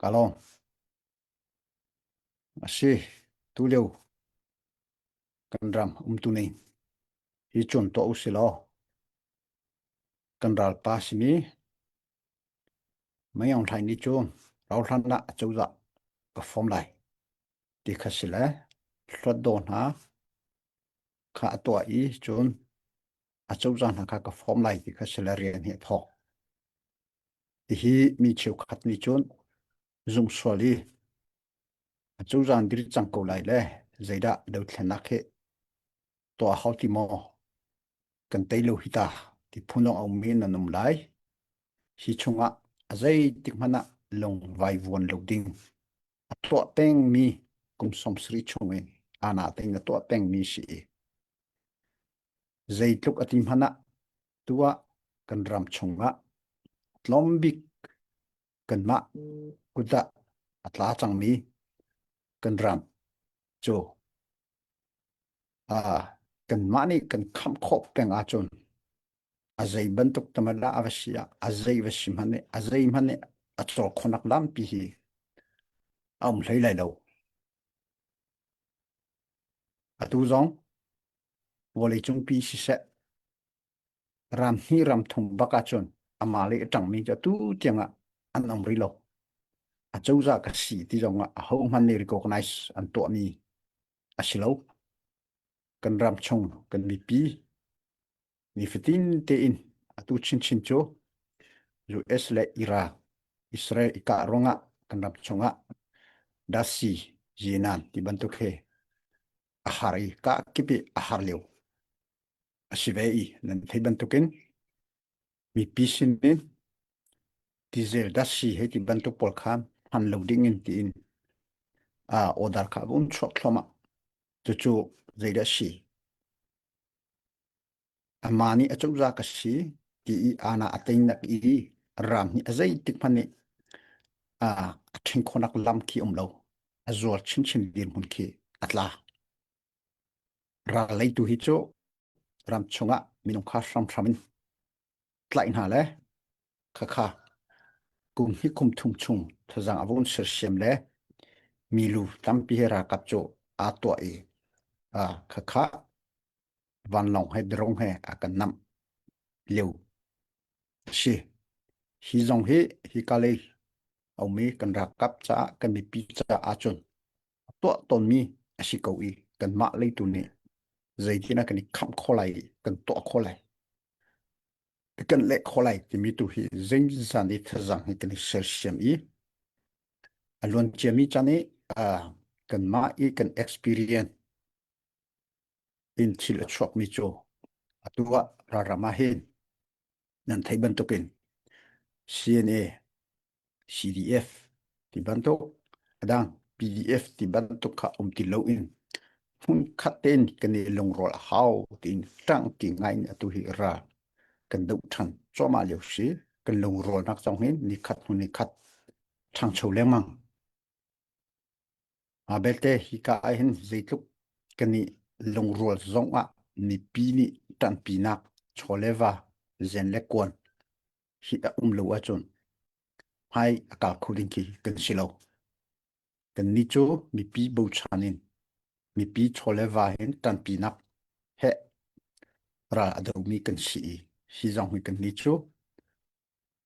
Ka lawm. A si, tulio kan ram umtu ning hi cuan tuah u silaw kan ralpa simi Mai Aung Hlaing nih cun rauhhlan ah acozah ka form lai ti kha si le hluat daw hna kha a tuah i cun a cozah hna kha ka form lai ti kha salarian hi a thawk. Hihi mi cheukhat nih cun zungsual hi a cozah diri cang ko lai le zeidah dothlenak he tuah hau ti maw kan tei lo hi ta ti phunong au men an um lai hi chungah a zei tik hmanh ah lung vai vuan lo ding a tuah teng mi kum som sri chung i ana teng a tuah teng mi si i Zeitluk a ti hmanh ah tuah kan ram chungah tlawm bik kanmah kut ah a tla cangmi kan ram cu uh, kanmah nih kan khamh khawh peng ahcun a zei bantuk tamad ah a va si ah a zei va si hmanh nih a zei hmanh nih a cawk khonak lampi hi a um hlei lai lo. Atu zong vawleicung pi siseh ram hnih ram thum bak ahcun amah le a ṭangmi cu atu tiang ah an um rih lo a cozah ka si ti zong ah ahohmanh nih recognize an tuahmi a si lo kan ram chung kan mipi nifatin tein atu chinchin cu US le Iran Israel ikah ruangah kan ram chungah dasi yenan ti bantuk he a har i kah kip i a har lio a si ve i nan thei bantukin mipi sin in diesel dasi hei ti bantuk pawl kha hman lo ding in tiin a order kha um chuak thloma cucu zeidah si Amah nih a cungzah ka si ti i aana a teinak i rang hi a zeitik hmanh nih a ṭhing khonak lam khi um lo. A zual chinchin dirhmun khi a tla. Rallei tu hi cu ram chungah minung kha hramhram in tlaih hna le khakha kum hi kum thum chung thazang avun sersiam le milu tampi he rakap cu aa tuah i a khakha vanlawng he drong he a kan nam leu si hi zong hi hi kalei aumi kan rak kap caah kan mipi caah cun tuah tonmi a si ko i kan mah leitu nih zeitina kan i khamh kho lai kan tuah kho lai kan leh kho lai timi tu hi zeng zan i thazang hi kan i sersiam i a luan ciami chan i kan mah i kan experience in thil a chuakmi cu atu ah ralram ah hin nan theih bantukin CNA, CDF ti bantuk adang PDF ti bantuk kha um ti lo in hmun khat ten kan i lungrawl a hau tiin tang ti ngai in atu hi ra kan do than choma leo si kan lungrawlnak chong hin ni khat hnu ni khat thangcho lengmang Mah belte hika ah hin zeitluk kan i lungrual zong ah mipi nih ṭanhpinak chaw le va, zen le kuan hi a um lo ahcun hmai a ka kho ding khi kan si lo. Kannih cu mipi bochan in mipi chaw le va hin ṭanpinak he ral a domi kan si i hi zong hi kannih cu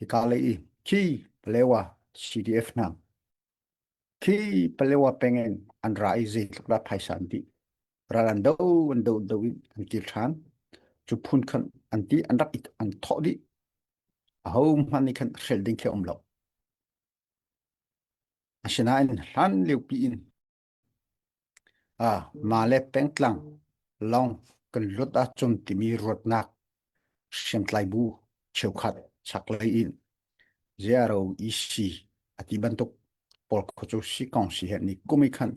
Hika lei i khi palewa CDF hna khi palewa pengen an ra i zeitluk dah phaisa an ti ral an do an do do in an kir ṭhan cu phun khan an ti an rak i an thawh dih aho hmanh nih khan hrel ding khi a um lo asinain hlan liopi in Mah le pengtlang lawng kan lut ahcun timi ruatnak hriamtlai bu cheukhat chaklei in ziaro ec a ti bantuk pawl kho cu si kong si he ni kum i khan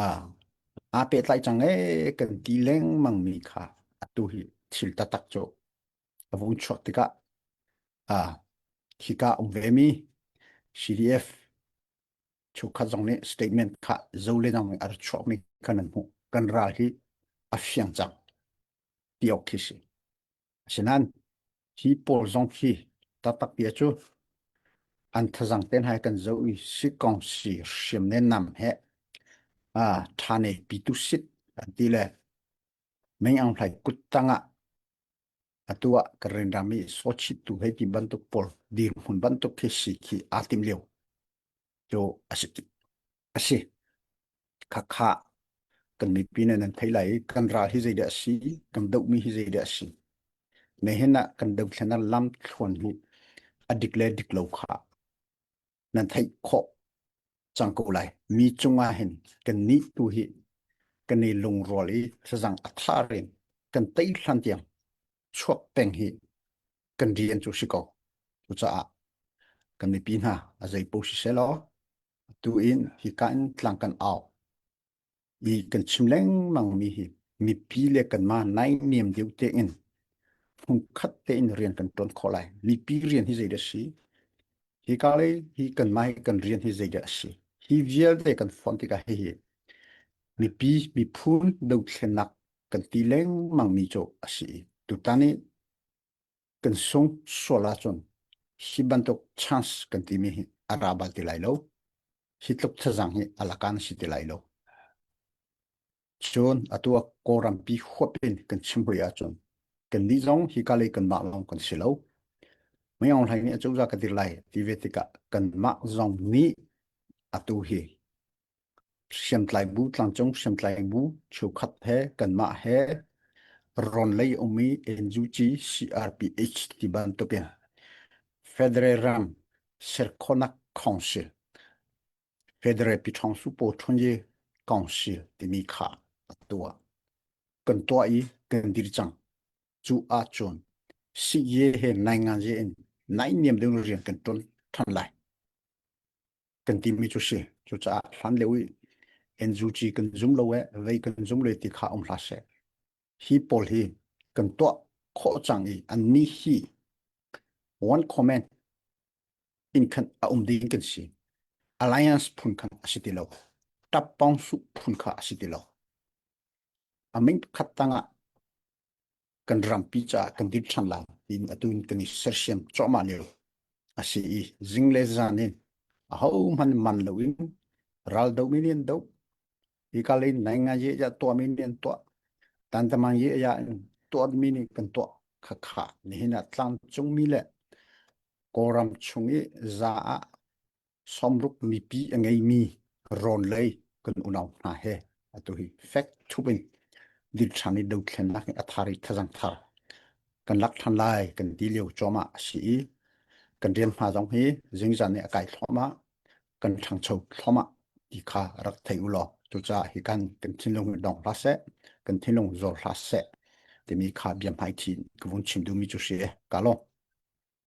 aa pehtlai cang ee kan ti lengmangmi kha atu hi thil taktak cu a vung chuah tikah hika um vemi CDF chukhat zong nih statement kha zolenang nih ar chuakmi kan an hmuh kan ral hi a fiang cak ti ok khi si asinan hi pawl zong khi tatak bia cu an thazang ten hai kan zo i si kong si hrim ne nam he a thane pitu sit an ti le meng ang hlai kuttang ah Atu ah ka rendam i sochit tu hei ti bantuk pawl dirhmun bantuk khi si khi aa tim lio cu asi asi khakha kan mipi ne nan thei lai kan ral hi zei de asi kan doh mi hi zei de asi ne hin ah kan doh thlen lam thluan hi adik le dik lo kha nan theih khawh cang ko lai mi cungah hin kan nih tu hi kan i lungrual i thazang a thar in kan tei hlan tiang chuak peng hi kan rian cu si ko cu caah kan mipi hna a zei po si se law tu in hi kan tlang kan au mi kan chim lengmang mi hi mipi le kanmah naihniam deuh tein phungkhat tein rian kan tuan khawh lai mipi rian hi zeidah si hi ka lei hi kanmah hi kan rian hi zeidah a si hi vialte kan fon tikah hihi mipi miphun dothlennak kan ti lengmang mi cu a si tutan i kan sung sual ahcun hi bantuk chance kan timi hi a ra bal ti lai lo hi tluk thazang hi alakan si ti lai lo cun atua korampi huap in kan chimbui ahcun kan ni zong hi kalai kan mah long kan si lo mai ong hlai ni acuza ka dir lai ti ve tikah kan mah zong ni atu hi hriamtlai bu tlangcung hriamtlai bu cheukhat he kanmah he ron lei umi NUG CRPH ti bantuk in Federal Ram Serkhonak Council Federal Pichong Supo Chunye Council timi kha atua kan tua i kan dir cang cu a chun si ye he nai ngan je in nai niam ding rian kan ton than lai kan timi cu si cucaah hlan leu i NUG kan zum lo e vei kan zum le ti kha um hla se hi paul hi kan to kho chang i an ni hi one comment in khan a um ding kan si alliance phun khan a si ti lo tapong su phun kha a si ti lo aming khat tanga kan rampi caah kan dip than lang tin atun kan i sersiam chomah lio asi i zing le zan in a ho man man lo in ral do mi nian do i kal in nai nga ye ja to mi nian to tan tamang ye ya to mi ni kan to kha kha ni hina tlang chung mi le koram chung i za a Somruk mipi a ngeimi rawn lei kan unau hna he atu hi fek thup in dilṭhang i dothlennak in a thar i thazang thar kan lak ṭhan lai kan ti lio cuahmah a si i kan rian hna zong hi zingzan i a kai thluahmah kan ṭhangcho thluahmah ti kha rak thei u law cucaah hi kan kan thinlung in dong hlah seh kan thinlung zor hlah seh timi kha bia hmaithi ka vun chim duhmi cu si e ka lawm